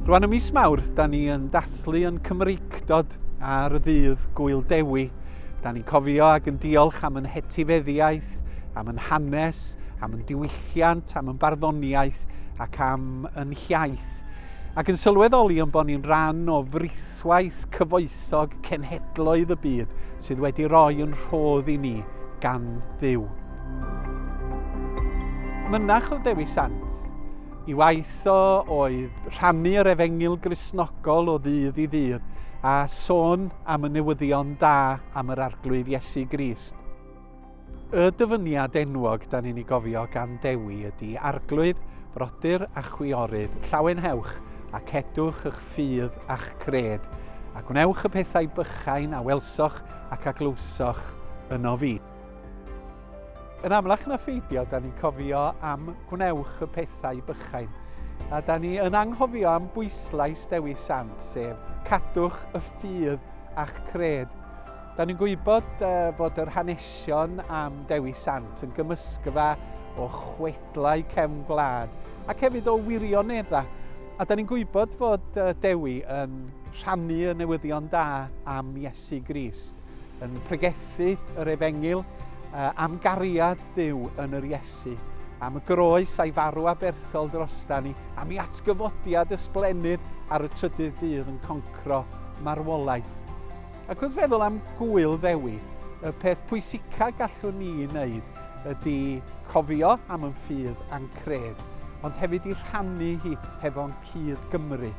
Rwan y mis Mawrth, da ni yn daslu yn Cymreicdod ar y ddydd Gwyl Dewi. Da ni'n cofio ac yn diolch am yn hetifeddiaeth, am yn hanes, am yn diwylliant, am yn barddoniaeth ac am yn hiaith. Ac yn sylweddoli yn bod ni'n rhan o frith Gweithwaith cyfoethog cenhedloedd y byd sydd wedi roi yn rhodd i ni gan Dduw. Mynach oedd Dewi Sant. I waith o oedd rhannu yr efengyl grisnogol o ddydd i ddydd a sôn am y newyddion da am yr Arglwydd Iesu Grist. Y dyfyniad enwog dan ni'n ei gofio gan Dewi ydy Arglwydd, brodyr a chwiorydd, llawenhewch a cedwch ych ffydd a'ch cred, a gwnewch y pethau bychain a welsoch ac a glywsoch yno fi. Yn amlach na pheidio, da ni'n cofio am gwnewch y pethau bychain, a da ni yn anghofio am bwyslais Dewi Sant, sef cadwch y ffydd a'ch cred. Da ni'n gwybod fod yr hanesion am Dewi Sant yn gymysgfa o chwedlau cefn gwlad ac hefyd o wirioneddau. A da ni'n gwybod fod Dewi yn rhannu y newyddion da am Iesu Grist, yn pregethu yr efengil am gariad Dyw yn yr Iesu, am y groes a'i farw a berthol drostan ni, am ei atgyfodiad ysblennydd ar y trydydd dydd yn concro marwolaeth. Ac wrth feddwl am Gŵyl Ddewi, y peth pwysica gallwn ni wneud ydy cofio am yn ffydd a'n cred, ond hefyd i rhannu hi hefo'n cyd Gymru.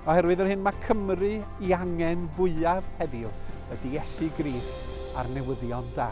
Oherwydd yr hyn mae Cymru i angen fwyaf heddiw ydy Iesu Gris a'r newyddion da.